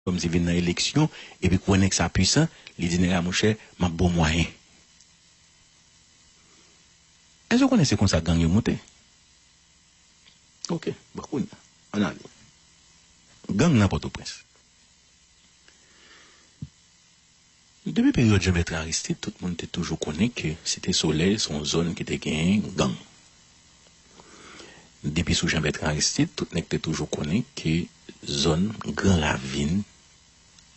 Kòm si vin nan eleksyon epi kwè nèg sa pwisan li di nèg a monchè map baw mwayen. Èske ou konnen se konsa gang yo moute? Ok bon kounya an ale gang nan pòtoprens. Depi peryòd Jan-Bètran Aristid, tout moun te toujou konnen ke Site Solèy se yon zòn ki te genyen gang. Depi sou Jan-Bètran Aristid, tout nèg te toujou konnen ke zòn Gran Ravin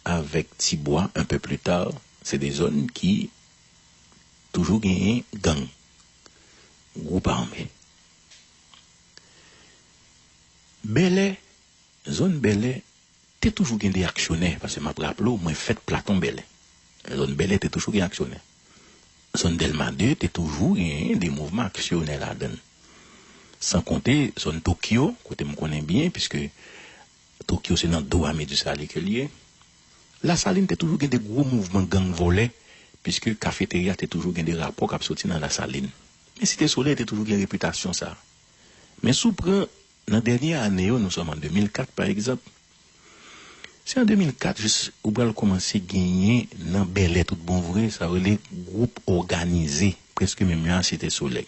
avèk Ti Bwa un peu plus tard, se de zòn ki toujou genyen gang, gwoup ame. Bèlè, zòn Bèlè. Te toujou gen de aksyonè, paske m ap raple w mwen fèt Platon Bèlè. Zòn Bèlè te toujou gen aksyonè. Zòn Dèlma 2 te toujou genyen de mouvman aksyonè ladan l. San konte zòn Tokyo, kote m konnen byen, piske Tokyo se nan do Ame Disalye ke l ye. Lasalin te toujou gen de gwo mouvman gang vòlè, piske Kafeterya te toujou gen de rapò k ap soti nan Lasalin. Men Site Solèy te toujou gen repitasyon sa a. Men si w pran Nan dènye ane yo, nou sòm an 2004 pa egzanp, se an 2004 jis ou pral kòmanse genyen nan Bèlè tout bon vre sa yo rele gwoup òganize prèske menm jan a Site Solèy.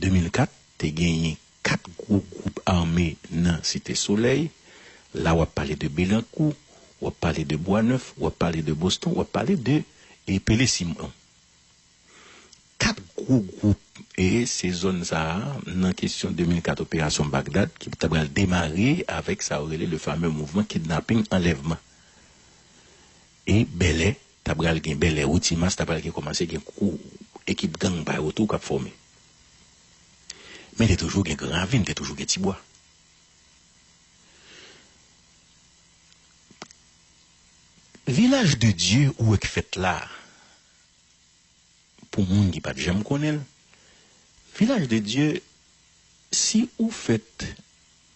2004, te genyen 4 gwo gwoup ame nan Site Solèy, la w ap pale de Belankou, w ap pale de Bwanèf, w ap pale de Boston, w ap pale de Pele Simon. 4 gwo gwoup e se zòn sa a nan kesyon 2004 operasyon Bagdad ki ta pral demare avèk sa yo rele le fameux mouvman kidnaping anlèvman e Bèlè ta pral gen Bèlè ou Ti Mas ta pral gen kòmanse gen gwo ekip gang pa yo tou k ap fòme men te toujou gen Gran Ravin te toujou gen Ti Bwa. Vilaj de Dye ou wè k fèt la a. Pou moun ki pat janm konnen l, Vilaj de Dye si ou fèt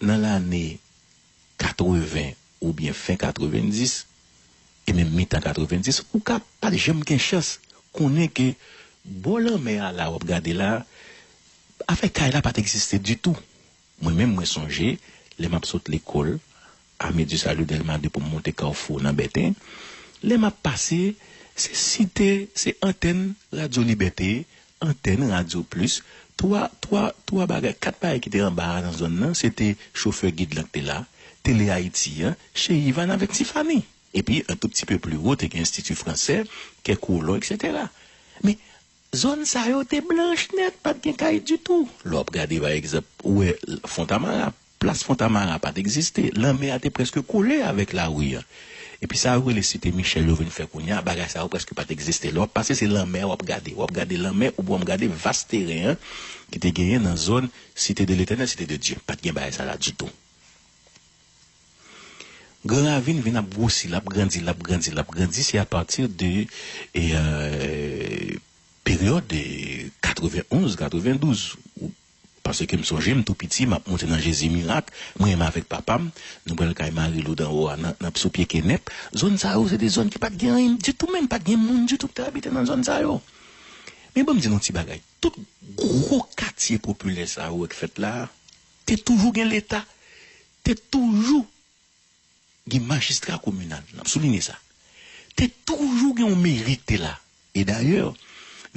nan lane 80 oubyen fen 90 e menm mitan 90 ou ka pat janm gen chans konnen ke bò lanmè a la wap gade la afè kay la pat egziste ditou. Mwen menm mwen sonje lè map sot lekol ame du salut delma 2 poum monte carrefour nan bèten lè map pase se site se antèn radio libète antèn radio plus 3 3 3 bagay 4 bagay kite anba a nan zòn nan sete chofè gid lan ki te la tele ayiti an chez yvan avèk tifani epi un tout ti peu plus haut te gen institut français kè kolon etc men Zòn sa yo te blanch nèt, pa t gen kay ditou. Lè w ap gade pa egzanp, ou wè Fontamara, plas Fontamara pa t egziste. Lanmè a te prèske kole avèk lari a. Epi sa yo rele Site Michèl yo vin fè kounye a, bagay sa yo prèske pa t egziste. Lè w ap pase se lanmè a w ap gade. W ap gade lanmè oubyen w ap gade vas teren an ki te genyen nan zòn Site de Letènèl, Site de Dye. Pa t gen bagay sa la ditou. Gran ravin vin ap gwosi, l ap grandi, l ap grandi, l ap grandi, se apati de peryòd 91, 92, paske m sonje m tou piti, m ap monte nan Jezi Mirak, mwen menm avèk papa m, nou pral kay Marilou dan wo a nan sou pye kenèp, zòn sa yo se te zòn ki pa t gen anyen ditou menm, pa t gen moun ditou ki te abite nan zòn sa yo. Men ban m di nou ti bagay, tout gwo katye popilè sa yo wè k fèt la a, Te toujou gen leta, te toujou gen majistra kominal, n ap soulinye sa. Te toujou gen yon meri ki te la. E dayè,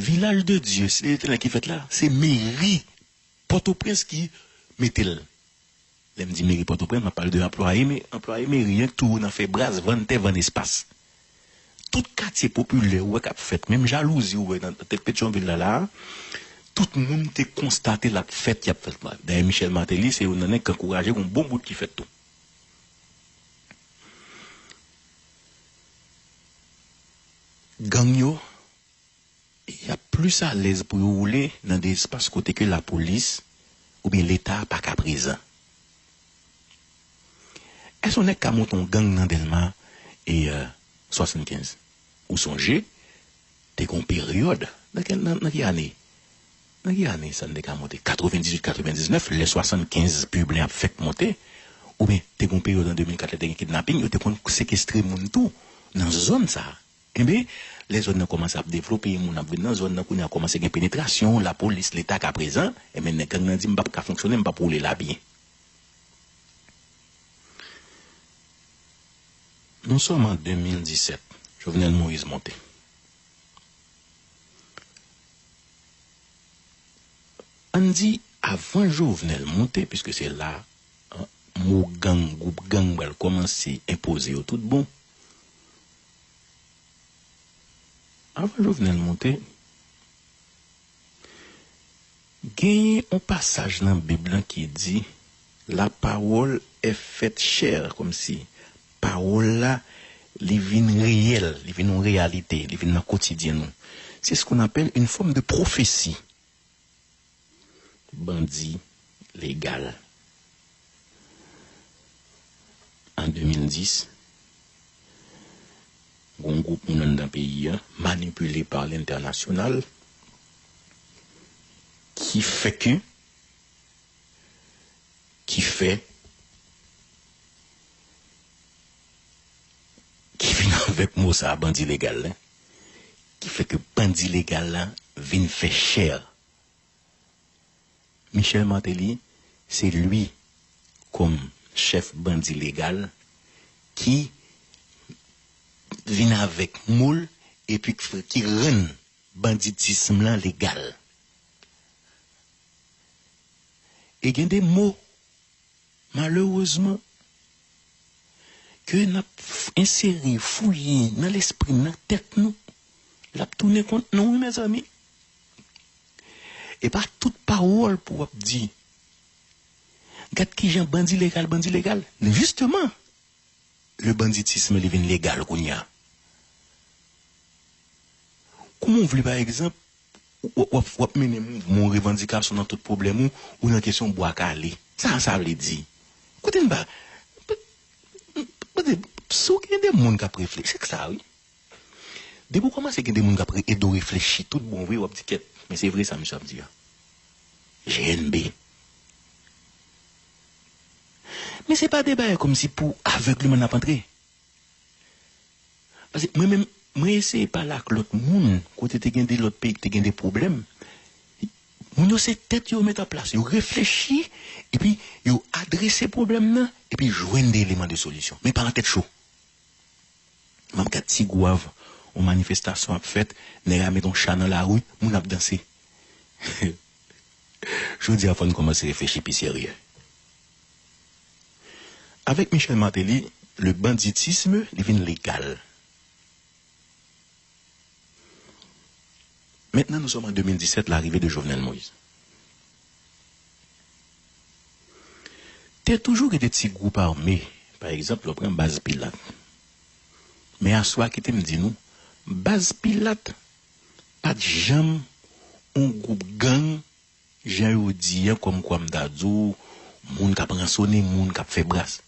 Vilaj de Dye, Site Letènèl ki fèt la, se meri Pòtoprens ki mete l. Lè m di meri Pòtoprens, m ap pale de anplwaye meri, anplwaye meri an ki toujou nan fè bras, vann tè, vann espas. Tout katye popilè ou wè k ap fèt, menm jalouzi ou wè nan tèt Petyonvil la la a, tout moun te konstate l ap fèt, y ap fèt. Dayè Michel Martelly se youn nan nèg k ankouraje gon bon bout ki fèt tou. Gang yo. Y ap plis alèz pou yo woule nan de espas kote ke lapolis oubyen leta a pa ka prezan. Èske yon nèg ka monte yon gang nan Dèlma e 75? Ou sonje te gen yon peryòd, nan ki ane, nan ki ane, nan ki ane sa n te ka monte 98, 99 lè 75 pib lan ap fèk monte oubyen te gen yon peryòd an 2004 lè te gen kidnaping yo te konn sekestre moun tou nan zòn sa a. Enben, lè zòn nan kòmanse ap devlope, moun ap vin nan zòn nan, kounye a kòmanse gen penetrasyon, lapolis, leta ka prezan, enben nèg gang nan di m pap ka fonksyone, m pap woule la byen. Non sèlman 2017, Jovenel Moïse monte. An n di avan Jovenel monte, piske se la mo gang, gwoup gang pral kòmanse enpoze yo tout bon, Avan Jovenel moute, genyen yon pasaj nan Bib lan ki di, La parole est faite chaire, kòmsi, pawòl la, li vin reyèl, li vin yon reyalite, li vin nan kotidyen nou. C'est ce qu'on appelle une forme de prophétie. bandi legal an 2010 gon group moun anndan peyi an manipile par lentènasyonal ki fè ke ki fè ki vin avèk mo sa bandi legal. ki fè ke bandi legal la vin fè chè. Michel Martelly se li kòm chèf bandi legal ki vin avèk moul epi ki rann banditism lan legal. E gen de mo Malerezman, ke n ap ensere, fouye nan lespri, nan tèt nou, l ap tounen kont nou wi mezanmi. E pa tout pawòl pou w ap di. Gad kijan bandi legal bandi legal. Jisteman, le banditisme li vin legal kounye a. Kouman w vle pa egzanp Wap mennen mouvman ou revandikasyon nan tout pwoblèm ou, ou nan kesyon bwa kale. Sa sa vle di? Kote n pa Si w gen de moun k ap reflechi, se k sa wi. Depi w kòmanse gen de moun k ap ede w reflechi tout bon vre, w ap di kèt, men se vre sa misye ap di a. GNB Men se pa de bagay kòmsi pou avègleman n ap antre. Pase mwen menm, mwen eseye pale ak lòt moun kote te gen de lòt peyi ki te gen de pwoblèm. Moun yo se tèt yo met an plas, yo reflechi, epi yo adrese pwoblèm nan, epi jwenn de eleman de solisyon. Men pa nan tèt cho. M ap gad ti gwav, yon manifestasyon ap fèt, nèg a met yon cha nan lari, moun ap danse. Jodi a fò n kòmanse reflechi pi serye. Avèk Michel Martelly le banditisme li vin legal. Mentnan nou sòm an 2017 larive de Jovenel Moise. Te toujou gen de ti gwoup ame pa egzanp lè w pran baz Pilat. Men aswa kite m di nou baz Pilat pat janm on gwoup gang. Jan yo di an kòmkwa m ta di w moun k ap ransonnen moun, k ap fè bras.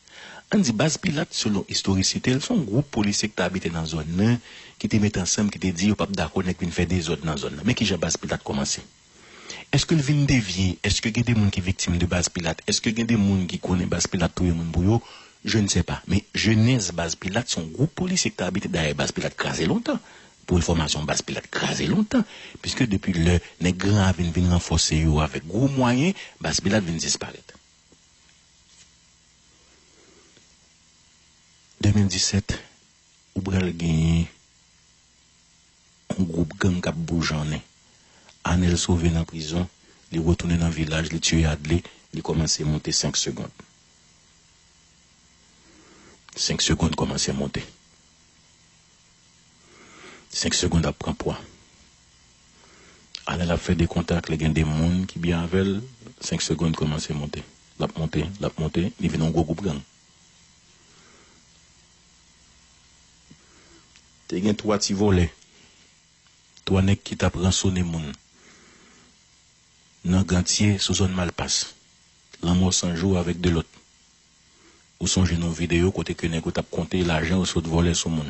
Ann di Baz Pilat selon istorisite l se yon gwoup polisye ki te abite nan zòn nan ki te met ansanm ki te di yo pa p dakò nèg vin fè dezòd nan zòn nan. Men ki jan Baz Pilat kòmanse. Èske l vin devye? Èske gen de moun ki viktim de Baz Pilat? Èske gen de moun ki konnen Baz Pilat touye moun pou yo? Je ne sais pas. Men jenèz Baz Pilat se yon gwoup polisye ki te abite dèyè Baz Pilat kraze lontan Pou enfòmasyon w Baz Pilat kraze lontan, piske depi lè nèg Gran Ravin vin ranfòse yo avèk gwo mwayen, Baz Pilat vin disparèt. 2017, Ou pral genyen yon gwoup gang k ap boujonnen. Anèl sove nan prizon, li retounen nan vilaj, li tiye Adle, li kòmanse monte 5 segond. 5 segond kòmanse monte. 5 segond ap pran pwa Anel ap fè de kontak li gen de moun ki byen avèl 5 segond kòmanse monte lap monte lap monte li vin yon gwo gwoup gang te gen 3 ti vòlè 3 nèg ki tap ransone moun nan gantye sou zòn malpas lanmò sanjou avèk 2 lòt Ou sonje non video kote ke nèg yo tap konte lajan yo sot vòlè sou moun.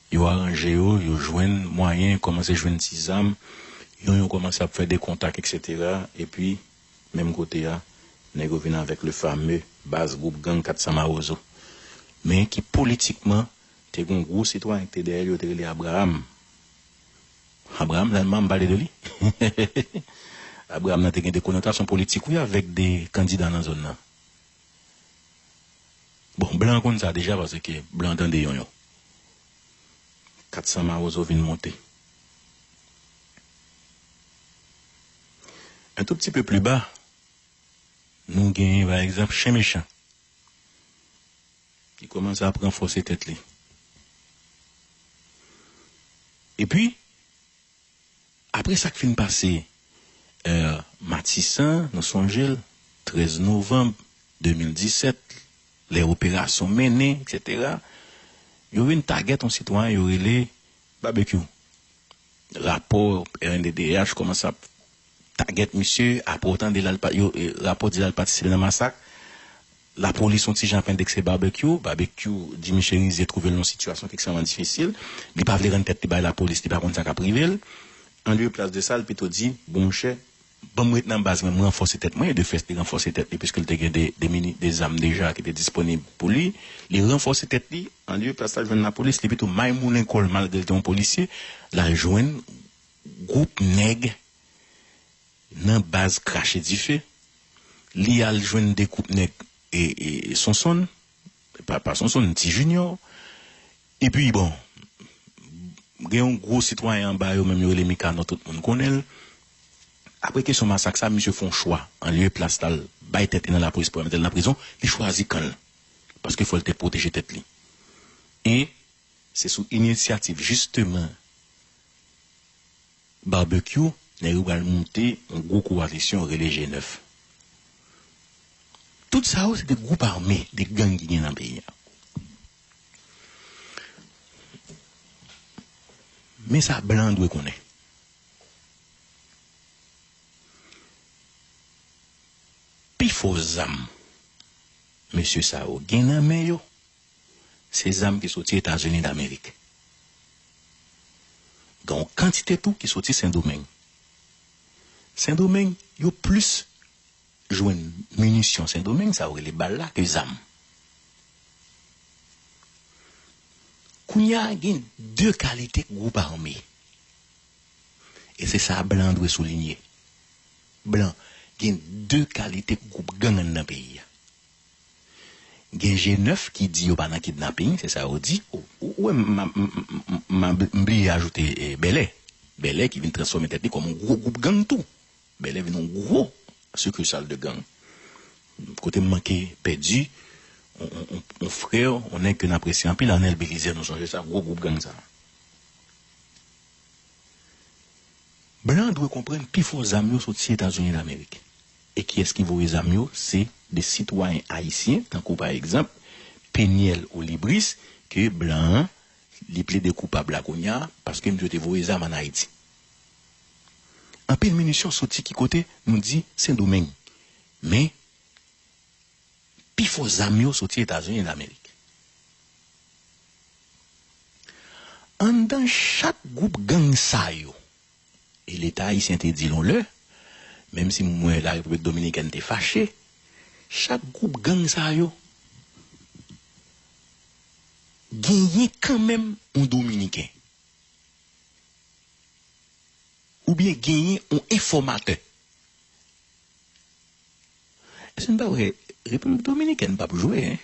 Yo aranje yo, yo jwenn mwayen, kòmanse jwenn ti zam, yon yon kòmanse ap fè de kontak etc. Epi menm kote a nèg yo vin avèk le fameux baz gwoup gang 400 mawozo. Men ki politikman te gon gwo sitwayen ki te dèyèl yo te rele Abraham. Abraham Lanma m pale de li Abraham nan te gen de konotasyon politik wi avèk de kandida nan zòn nan bon blan konn sa deja paske blan tande yon yon 400 mawozo vin monte un tout pti peu plus bas nou gen pa egzanp chen mechan. Li kòmanse ap ranfòse tèt li. Epi, apre sa k fin pase è Matisan, nou sonje l, 13 novanm 2017, lè operasyon mennen, eksetera, yo vin tagèt yon sitwayen yo rele Babekyou. Rapò rnddh kòmanse ap tagèt misye, apre ou tande l al, rapò di l al patisipe nan masak. Lapolis on ti jan ap endekse Barbecue, Babekyou di Misye Rizier twouve l nan yon sitiyasyon ki ekstrèman difisil, li pa vle rann tèt li bay Lapolis, li pa konn sa k ap rive l. Anlieu plas de sa, l pito di, bon monchè, ban m ret nan baz mwen, m ranfòse tèt mwen, e de fèt li ranfòse tèt li piske l te gen de, de mini, de zam deja ki te disponib pou li, li ranfòse tèt li, anlieu plas la jwenn Lapolis, li pito maymoulen kò l malgre l te yon polisye, l al jwenn gwoup nèg Nan baz krache dife Li al jwenn 2 koup nèg e Sonsonn pa Sonsonn ti Jinyò Epi bon Gen yon gwo sitwayen anba yo menm yo rele Mikanò tout moun konnen l Apre kesyon masak sa misye fon chwa an lye plas la l bay tèt li nan lapolis pou yo mete l nan prizon li chwazi kan l paske fò l te pwoteje tèt li e se sou inisyativ jisteman. Barbecue nèg yo pral moute yon gwo kowalisyon rele G9. Tout sa yo se 2 gwoup ame, 2 gang ki gen nan peyi a. Men sa blan an dwe konnen. Pi fò zam mesye sa yo gen nan men yo. se zam ki soti Etazini Damerik. Gen yon kantite tou ki soti Sendomeng. Sendomeng, yo plis jwenn minisyon Sendomeng, sa yo rele bal la, ke zam. Kounye a, gen de kalite gwoup ame. E se sa blan dwe soulinye. Blan, gen de kalite gwoup gang anndan peyi a. Gen je nèf ki di yo pa nan kidnaping, se sa yo di. Ou wè m bliye ajoute Bèlè. Bèlè ki vin transfòme tèt li kòm yon gwo gwoup gang tou. Bèlè vin yon gwo sikisal de gang. Kote m manke pèdi yon frè, yon nèg ke n apresye anpil Arnel Belizè nou sonje sa, gwo gwoup gang sa. Blan dwe konprann pi fò zam yo soti Etazini Damerik. E kiyès ki voye zam yo? Se de sitwayen ayisyen, tankou pa egzanp, Peniel Olibris, ke blan an, li plede koupab la kounya, paske misye te voye zam an Ayiti. Anpil minisyon soti ki kote? Nou di Sendomeng. Men, pi fò zam yo soti Etazini Damerik. Anndan chak gwoup gang sa yo. E Leta ayisyen te di l yon lè, menm si m wè Larepiblik Dominikèn te fache, chak gwoup gang sa yo genyen kanmenm yon Dominiken oubyen genyen yon enfòmatè Ese n pa wè repiblik dominikèn pap jwe hein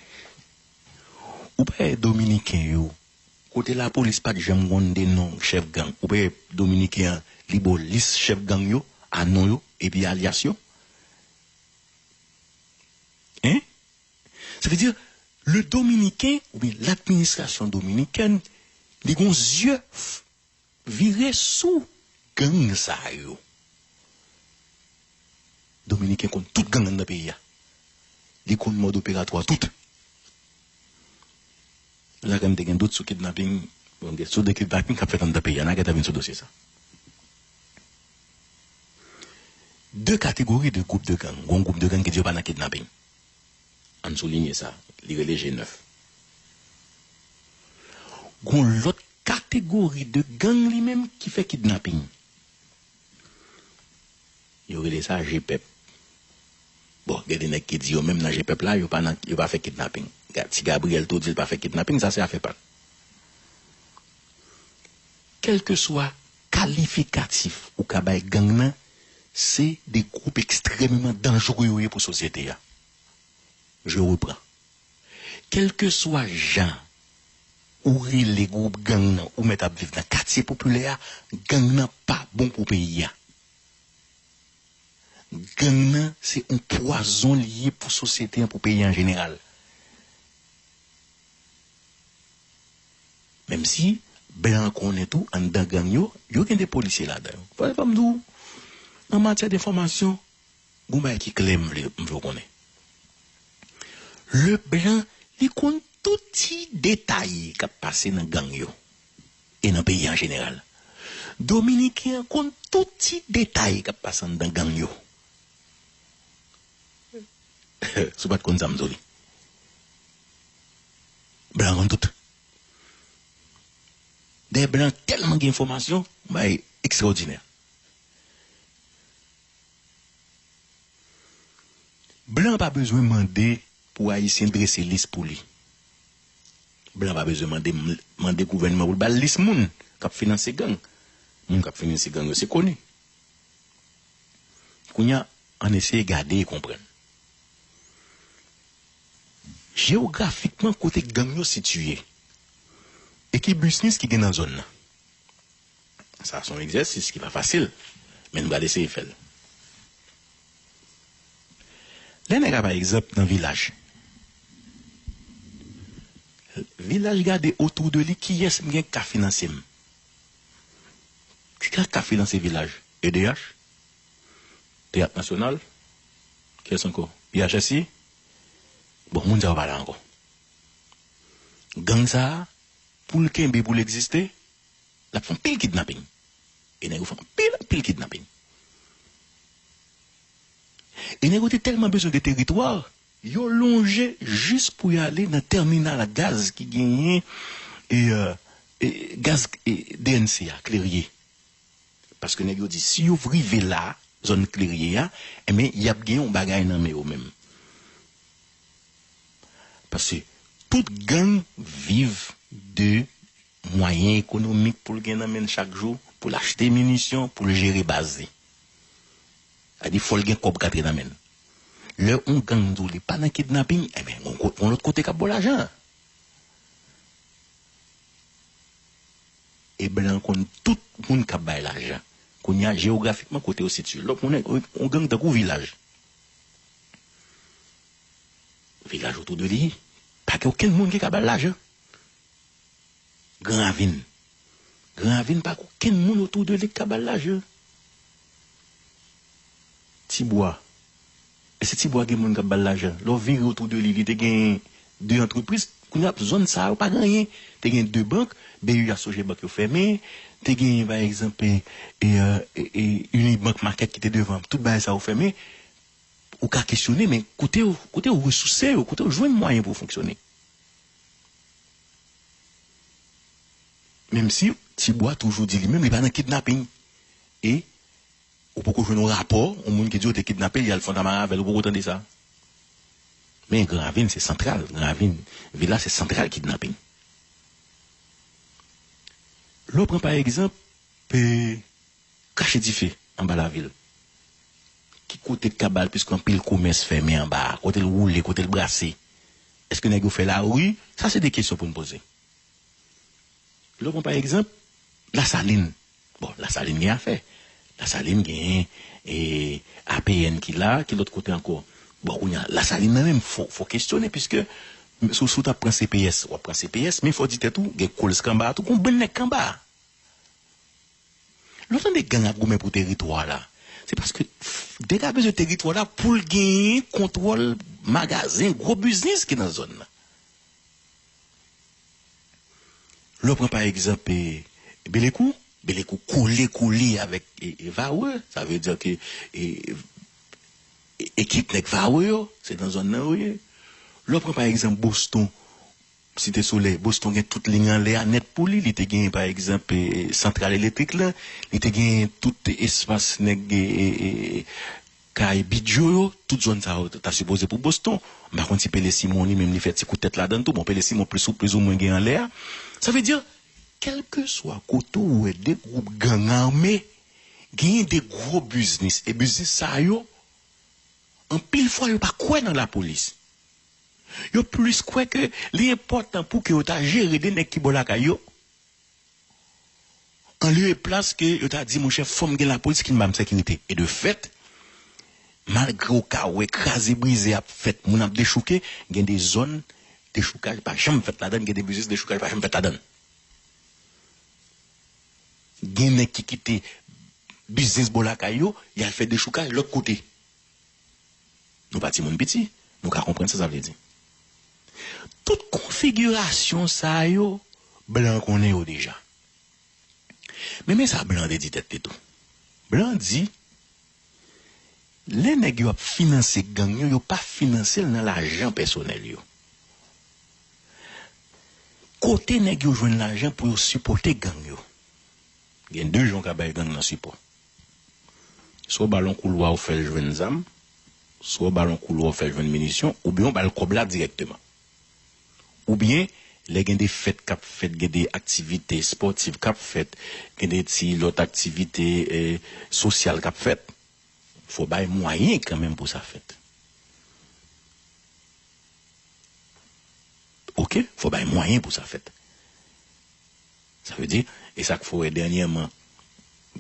ou pa wè dominiken yo kote la polis pat janm konn de non chèf gang ou pa wè dominiken an li ba w lis chèf gang yo a non yo epi alyas yo hein sa vle di le dominiken ou byen ladministrasyon dominikèn li gon zye Vire sou gang sa yo. Dominiken konn tout gang anndan peyi a. Li konn mòd operatwa tout. Nagan te gen dout sou kidnaping, bon gen sou de kidnaping kap fèt anndan peyi a. Nagan ta vin sou dosye sa. De kategori de gwoup de gang. Gon gwoup de gang ki di yo pa nan kidnaping. Ann soulinye sa, li rele je nèf. Gon lòt kategori de gang li menm ki fè kidnaping. Yo rele sa je pèp. Bon, gen de nèg ki di yo menm nan je pèp la, yo pa nan, yo pa fè kidnaping. Ti Gabriel tou di l pa fè kidnaping, sa se afè pa l. Kèlkeswa Kalifikatif ou ka bay gang nan se de gwoup ekstrèmeman danjre yo ye pou sosyete a. Je repran. Kèlkeswa jan ou rele gwoup gang nan ou mèt ap viv nan katye popilè a, gang nan pa bon pou peyi a. Gang nan se yon pwazon li ye pou sosyete an, pou peyi an jeneral. Menm si blan konnen tou anndan gang yo, yo gen de polisye ladan yo. Fòk m di w, an matyè de fòmasyon, gen yon bagay ki klè m vle w konnen. Leblan, li konn tout ti detay k ap pase nan gang yo e nan peyi an jeneral. Dominiken an konn tout ti detay k ap pase anndan gang yo. Si w pat konn sa m di w li. Blan konn tout. Dayè blan tèlman gen enfòmasyon, yon bagay ekstraòdinè. Blan pa bezwen mande pou ayisyen drese lis pou li. Blan pa bezwen mande mande gouvènman pou l ba l lis moun k ap finanse gang. Moun k ap finanse gang yo se koni. Kounye a, ann eseye gade e konprann. Jewografikman kote gang yo sitiye e ki bisnis ki gen nan zòn nan. Sa a se yon egzèsis ki pa fasil, men n pral eseye fè l. Lè nèg a pa egzanp nan vilaj, vilaj gade otou de li kiyès m gen k ka finanse m. Ki teyat kap finanse vilaj? Edeyach? Teyat nasyonal? Kiyès ankò? Biyachèsi? Bon moun sa yo pa la ankò. Gang sa a pou l kenbe pou l egziste l ap fè anpil kidnaping e nèg yo fè anpil anpil kidnaping. E nèg yo te tèlman bezwen de teritwa Yo lonje jis pou y ale nan tèminal gaz ki genyen gaz DNC a, Klerye. Paske nèg yo di si yo rive la, zòn Klerye a, enben y ap gen yon bagay nan men yo menm. Paske tout gang viv de mwayen ekonomik pou l gen nan men l chak jou, pou l achte minisyon, pou l jere baz li. Sa di fòl gen kòb k antre nan menl. Lè on gang di w li pa nan kidnaping enben gon kote gon lòt kote kap ba w lajan an. E blan konn tout moun kap bay lajan. Kounye a jeografikman kote yo sitye. Lòt moun on gang tankou vilaj. Vilaj otou de li pa gen okenn moun ki ka ba l lajan. Gran ravin. Gran ravin pa gen okenn moun otou de li k ka ba l lajan. Ti bwa. Èske ti bwa gen moun k ap ba l lajan? Lè w vire otou de li, li te gen de antrepriz. Kounye a zòn sa yo pa gen anyen. Te gen de bank, BU a Soje bank yo fèmen. Te gen pa egzanp Unibank Market ki te devan. Tout bagay sa yo fèmen. Ou ka kesyone men kote yo resouse yo, kote yo jwenn mwayen pou yo fonksyone? Menm si Ti Bwa toujou di li menm li pa nan kidnaping e ou poko jwenn yon rapò yon moun ki di yo te kidnape l y al Fontamara avè l ou poko tande sa. Men Gran Ravin se santral, Gran Ravin vil la se santral kidnaping. Lè w pran pa egzanp e Kache dife anba lavi l. Ki kote k ka ba l piske anpil komès fèmen anba a? Kote l woule? Kote l brase? Eske nèg yo fè lari? Sa se de kesyon pou n poze. Lè w pran pa egzanp Lasalin, bon Lasalin gen afè. Lasalin genyen APN ki la, ki lòt kote ankò? Bon kounye a Lasalin nan menm fò w kesyone piske si w ta pran CPS w ap pran CPS men fò w di tèt ou gen Kolsk anba a tou, gen yon bann nèg ki anba a. Lè w tande gang ap goumen pou teritwa la, se paske dega bezwen teritwa la pou l genyen kontwòl magazen, gwo biznis ki nan zòn nan. Lè w pran pa egzanp Belekou, Belekou kole kole avèk Varreux, sa vle di ke ekip nèg Varreux yo se nan zòn nan yo ye. Lè w pran pa egzanp Boston, Site Solèy, Boston gen tout liy anlè a nèt pou li, li te genyen pa egzanp santral elektrik la, li te genyen tout espas nèg kay bidyo yo, tout zòn sa yo ta sipoze pou Boston. M pa konn si Pele Simon li menm li fè ti kout tèt ladan l tou, bon Pele Simon plis ou plis ou mwen gen anlè a. Sa vle di kèlkeswa kote ou wè 2 gwoup gang ame, genyen 2 gwo biznis e biznis sa yo anpil fwa yo pa kwè nan lapolis. Yo plis kwè ke li enpòtan pou ke yo ta jere 2 nèg ki bò lakay yo, an lye e plas ke yo ta di monchè fòm gen lapolis ki banm sekirite. E de fèt, malgre ou ka wè kraze brize ap fèt, moun ap dechouke, gen de zòn dechoukaj pa janm fèt ladan l, gen de biznis dechoukaj pa janm fèt ladan l. Gen nèg ki kite biznis bò lakay yo, y al fè dechoukaj lòt kote. Nou pa timoun piti, nou ka konprann sa sa vle di. Tout konfigirasyon sa yo, blan konnen yo deja. Men men sa blan te di tèt li tou. Blan di, lè nèg yo ap finanse gang yo, yo pa finanse l nan lajan pèsonèl yo. Kote nèg yo jwenn lajan pou yo sipòte gang yo? Gen de jan w ka bay gang nan sipò. Swa w ba l yon koulwa ou fè l jwenn zam, swa w ba l yon koulwa ou fè l jwenn minisyon, oubyen ou ba l kòb la dirèkteman. Oubyen, lè gen de fèt k ap fèt, gen de aktivite espòtiv k ap fèt, gen de ti lòt aktivite sosyal k ap fèt, fò w bay mwayen kanmenm pou sa fèt. Oke, fò w bay mwayen pou sa fèt. Sa vle di, e sa k fè dènyèman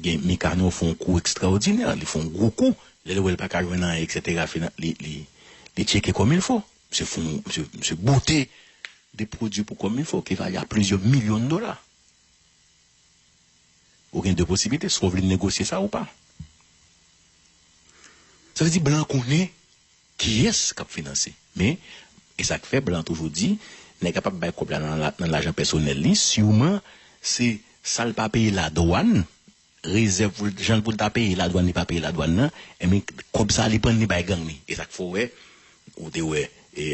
gen Mikano fè yon kou ekstraòdinè, li fè yon gwo kou, lè l wè l pa ka jwenn anyen eksetera fina li tcheke kòmilfo, misye fè yon, misye bote de pwodui pou kòmilfo ki vale a plizyè milyon dola. Ou gen de posiblite, swa w vle negosye sa ou pa. Sa vle di blan konnen Kiyès k ap finanse? Men, e sa k fè blan an toujou di, nèg a pap bay kòb la nan lajan pèsonèl li, siman se sa l pa peye ladwàn, rezèv pou l, jan pou l ta peye ladwàn li pa peye ladwàn nan, enben kòb sa a li pran li bay gang li. E sa k fè w wè, ou te wè e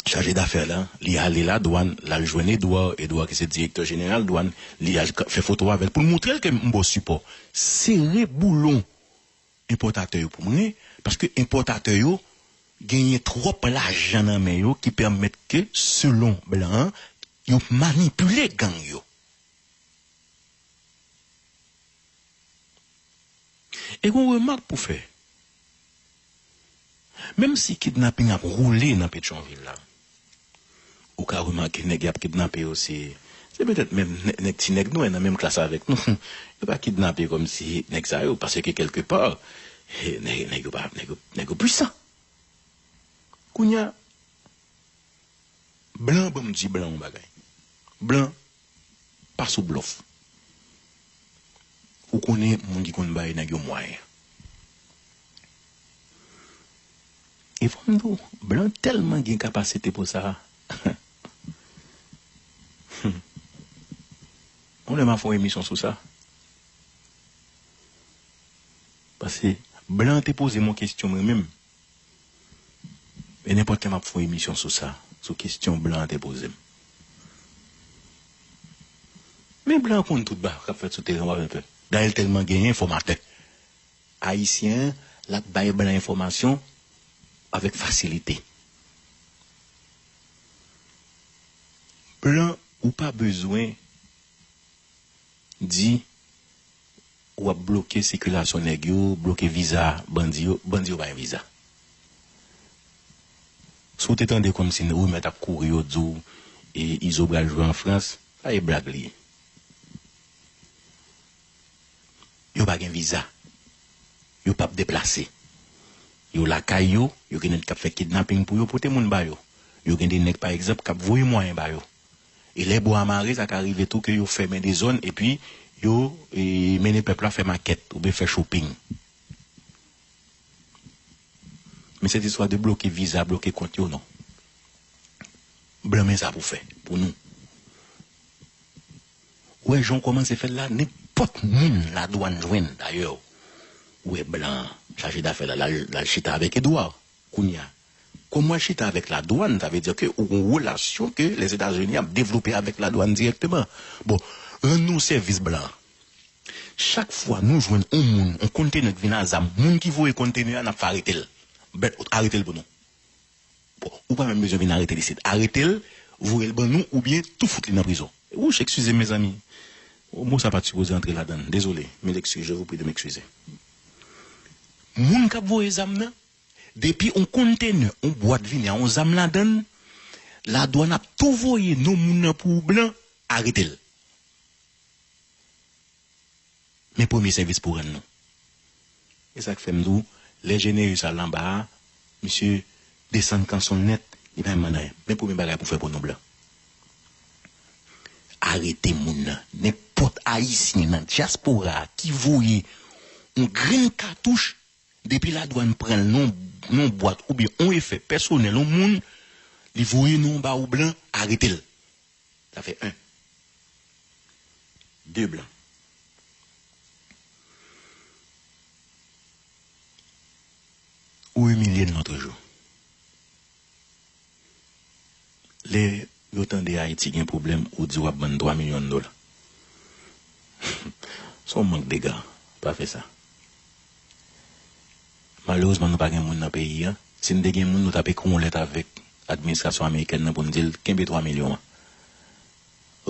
chaje dafè lan, li ale ladwàn, l al jwenn Edouard, Edouard ki se direktè jeneral dwàn, li al fè foto avè l pou l montre l ke m bò sipò. Sere boulon! Enpòtatè yo pou mwen, paske enpòtatè yo genyen twòp lajan nan men yo ki pèmèt ke selon blan an yo manipile gang yo. E gon remak pou fè. Menm si kidnaping ap roule nan Petyonvil la, ou ka remake nèg y ap kidnape yo se petèt menm nèg ti nèg nwè nan menm klas avèk nou. Yo pa kidnape kòm si nèg sa yo paske kèlke pa nèg yo pa nèg yo pwisan. Kounya blan banm di blan yon bagay. Blan. Pa sou blòf. Ou konnen moun ki konn bay nèg yo mwayen. E fò m di w, blan tèlman gen kapasite pou sa. Hum. Yon lè m a fè yon emisyon sou sa. Pase blan te poze m yon kesyon mwen menm. E nenpòt lè map fon emisyon sou sa, sou kestyon blan an te pozem. Men blan an konn tout bagay kap fèt sou teren wap fè pè. Dayè l tèlman gen enfòmatè ayisyen lap bay blan enfòmasyon avèk fasilite. Blan ou pa bezwen di. Wap bloke sikilasyon nèg yo, bloke viza bandi yo, bandi yo pa gen viza. Si w te tande kòmsi rimè tap kouri yo di w Izo pral jwe an Frans, pa e blag li ye. Yo pa gen viza, yo pap deplase, yo lakay yo, yo gen nèg kap fè kidnaping pou yo pote moun ba yo, yo gen de nèg pa egzanp kap voye mwayen ba yo. E lè bwa a mare, sa ka rive tou ke yo fèmen de zòn epi yo mennen pèp la fè makèt oubyen fè shopping. Men sèt istwa de bloke viza, bloke kont yo, non. Blan men sa pou fè pou nou. Ou wè jan ou kòmanse fè l la, nenpòt moun ladwann jwenn dayè ou wè blan an chaje dafè l la, l al chita avèk Edouard. Kounya, kòm wap chita avèk la dwann, sa vle di ke ou gon relasyon ke Lèzetazini ap devlope avèk la dwann dirèkteman. Bon, rann nou yon sèvis blan. Chak fwa nou jwenn yon moun, yon kontenè ki vin a zam, moun ki voye kontenè a nap fè aretel. Bèt out aretel pou nou. Bon, ou pa menm bezwen vin aretel isit. Aretel, voyel ban nou oubyen tou fout li nan prizon. Wouch, eksizem mezanmi. Mo sa pat sipoze antre ladann. Dezole. Mil eksuz, je vous prie de m'excuser. Moun kap voye zam nan. Depi yon konntenè, yon bwat vini a yon zam ladan l, ladwàn ap tou voye non moun nan pou blan arete l. Men premye sèvis pou rann nou. E sa k fè m di w, lè Jeneyis al anba a, misye desann kanson l nèt, li pa mande anyen. Men premye bagay pou fè pou nou blan. Arete moun nan. Nenpòt Ayisyen nan dyaspora a ki voye yon grenn katouch Depi ladwann pranl non non bwat oubyen on efè pèsonèl on moun li voye nou anba ou blan aretel sa fè 1 2 blan. Ou imilye n lotrejou. Lè yo tande ayiti gen pwoblèm ou di wap bann 3 milyon dola son mank dega pa fè sa malerezman nou pa gen moun nan peyi an si n te gen moun nou tap ekri yon lèt avèk administrasyon amerikèn nan pou n dil kenbe 3 milyon an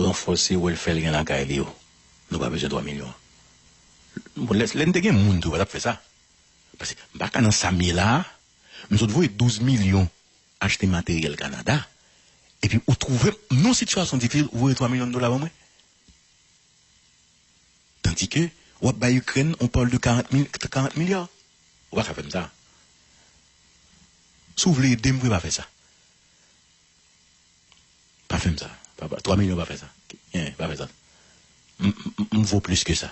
ranfòse wèlfè l gen lakay li yo nou pa bezwen 3 milyon an bon lè n te gen moun tou yo pa tap fè sa paske m pa ka nan sa m ye la a. Men zòt voye 12 milyon achte materyèl Kanada epi ou twouve m nan yon sitiyasyon difisil ou voye 3 milyon dola ban mwen? Tandike w ap bay Ikrèn on parle de 40 mil 40 milya. Ou pa ka fè m sa. Si w vle ede m vre pa fè sa. Pa fè m sa. Pa pa 3 milyon pa fè sa. Enyen pa fè sa. M m m vo plis ke sa.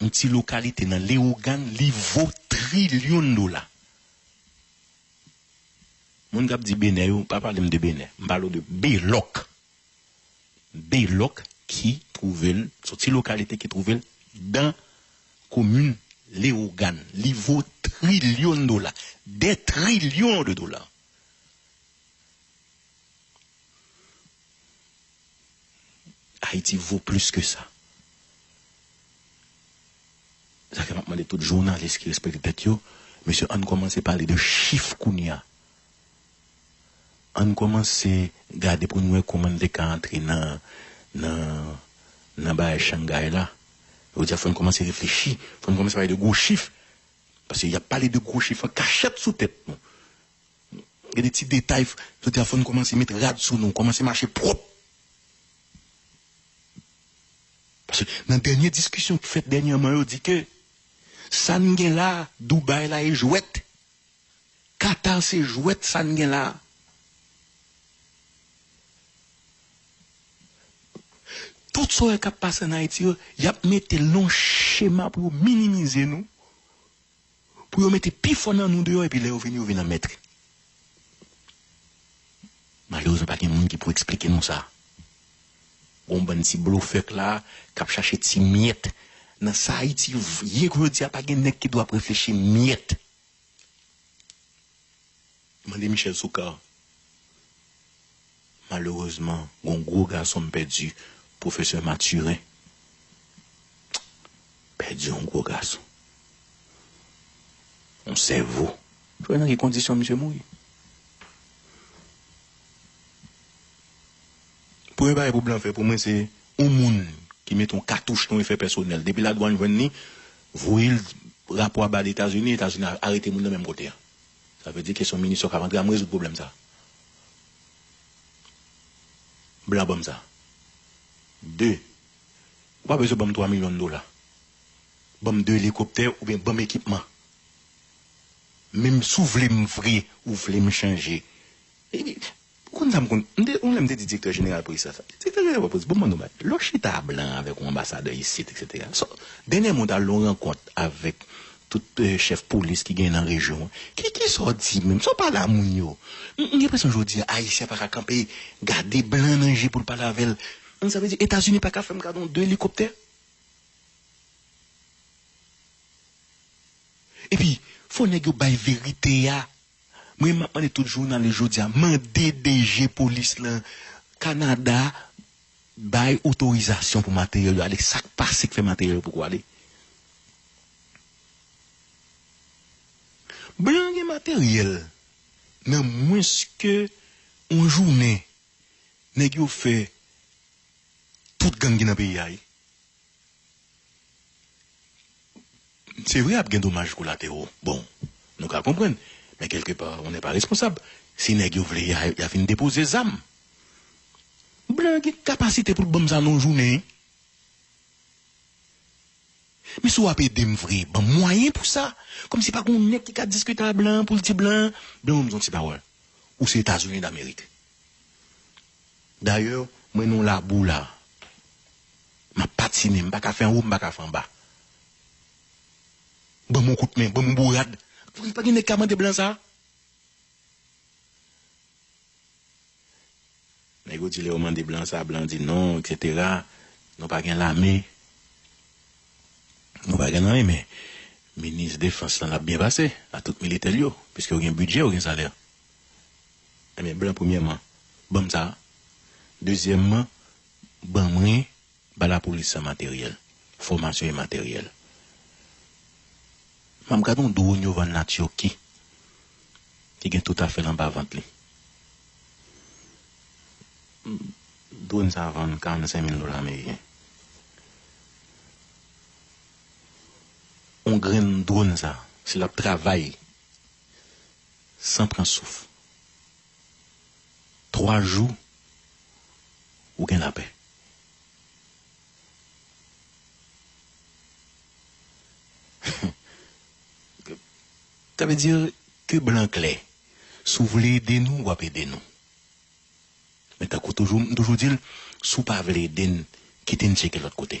Yon ti lokalite nan Lewogan li vo trilyon dola. Moun kap di Benè yo pa pale m de Benè. M pale w de Belòk. Belòk ki twouve l, son ti lokalite ki twouve l dan komin Lewogan. Li vo trilyon dola. Dè trilyon de dola. Haiti vo plis ke sa. Se sa fè map mande tout jounalis ki respekte tèt yo, mesye ann kòmanse pale de chif kounye a. Ann kòmanse gade pou nou wè kòman n te ka antre nan nan nan bagay Shanghai la. Yo di a fò n kòmanse reflechi, fò n kòmanse pale de gwo chif. Paske yap pale de gwo chif an kachèt sou tèt nou. Gen de ti detay f jodi a fò n kòmanse met rad sou nou, kòmanse mache pwòp. Paske nan dènye diskisyon k fèt dènyèman yo di ke sa n gen la a, Dubai la e jwèt, Qatar se jwèt sa n gen la a. Tout sa w wè k ap pase an Ayiti yo, y ap mete l nan yon chema pou yo minimize nou. pou yo mete pi fò nan nou deyò epi lè yo vini yo vin an mètre. Malerezman pa gen moun ki pou eksplike nou sa. Gon bann ti blofè k la k ap chache ti myèt nan sa Ayiti ye k jodi a pa gen nèg ki dwe ap reflechi myèt. Mande Michel Soukar. Malerezman gon gwo gason m pèdi Professeur Mathurin pèdi yon gwo gason yon sèvo. Ou wè nan ki kondisyon misye mouri? Premye bagay pou blan fè pou mwen se yon moun ki mete yon katouch nan efè pèsonèl depi ladwann jwenn li voye rapò a ba Etazini, Etazini arete moun nan menm kote a. Sa vle di kesyon minisyon kap antre a m rezoud pwoblèm sa. Blan banm sa. 2, Ou pa bezwen banm 3 milyon dola. Banm 2 elikoptè oubyen banm ekipman. Menm si w vle m vre, ou vle m chanje Epi, ou konn sa m konn, m te, yon lè m te di direktè jeneral polis la sa, direktè jeneral polis, bon m ban nou bagay, lè w chita a blan avèk yon anbasadè isit eksetera, sa w, dènyèman w t al nan yon rankont avèk tout chèf polis ki genyen nan rejyon an, ki, ki sa w di menm, sa w pale a moun yo? M, m gen enpresyon jodi a Ayisyen an pa ka kanpe gade blan nan je pou l pale avè l. Sa vle di Etazini pa ka fè m gade yon 2 elikoptè? Epi, fò nèg yo bay verite a. Mwen map mande tout jounalis jodia mande DG polis lan Canada bay otorizasyon pou materyèl yo ale sak pase k fè materyèl yo poko ale. Blan gen materyèl nan mwens ke yon jounen nèg yo fè tout gang ki nan peyi a wi. Se vre ap gen domaj kolatero, bon nou ka konprann men kelke pa on nè pa responsab, si nèg yo vle ya vin depoze zam. Blan an gen kapasite poul banm sa nan yon jounen. Men si wap edem vre banm mwayen pou sa, kòm si pa gen yon nèg ki ka diskite a blan an poul di blan an, blan banm yon ti pawòl, ou se etazini damerik. Dayè mwen nan labou la map patine m paka fè anwo m paka fè anba banm yon kout men banm yon bourad pa gen nèg ka mande blan sa. Nèg yo di lè yo mande blan sa blan di non etc nou pa gen lame nou pa gen anyen men minis defans lan lap byen pase a tout militè l yo piske yo gen bidjè yo gen salè. Ebyen blan premyèman banm sa dezyèmman ban mwen ba lapolis sa materyèl fòmasyon e materyèl map gad yon drone yo vann la turquie ki gen tout afèl anba vant li drone sa vann 45 mil dola ameriken yon grenn drone sa si lap travay san pran souf. Twa jou ou gen lapè. Sa vle di ke blan klè. Si w vle ede nou, w ap ede nou. Men tankou toujou, m toujou di l, si w pa vle ede n, kite n tcheke lòt kote.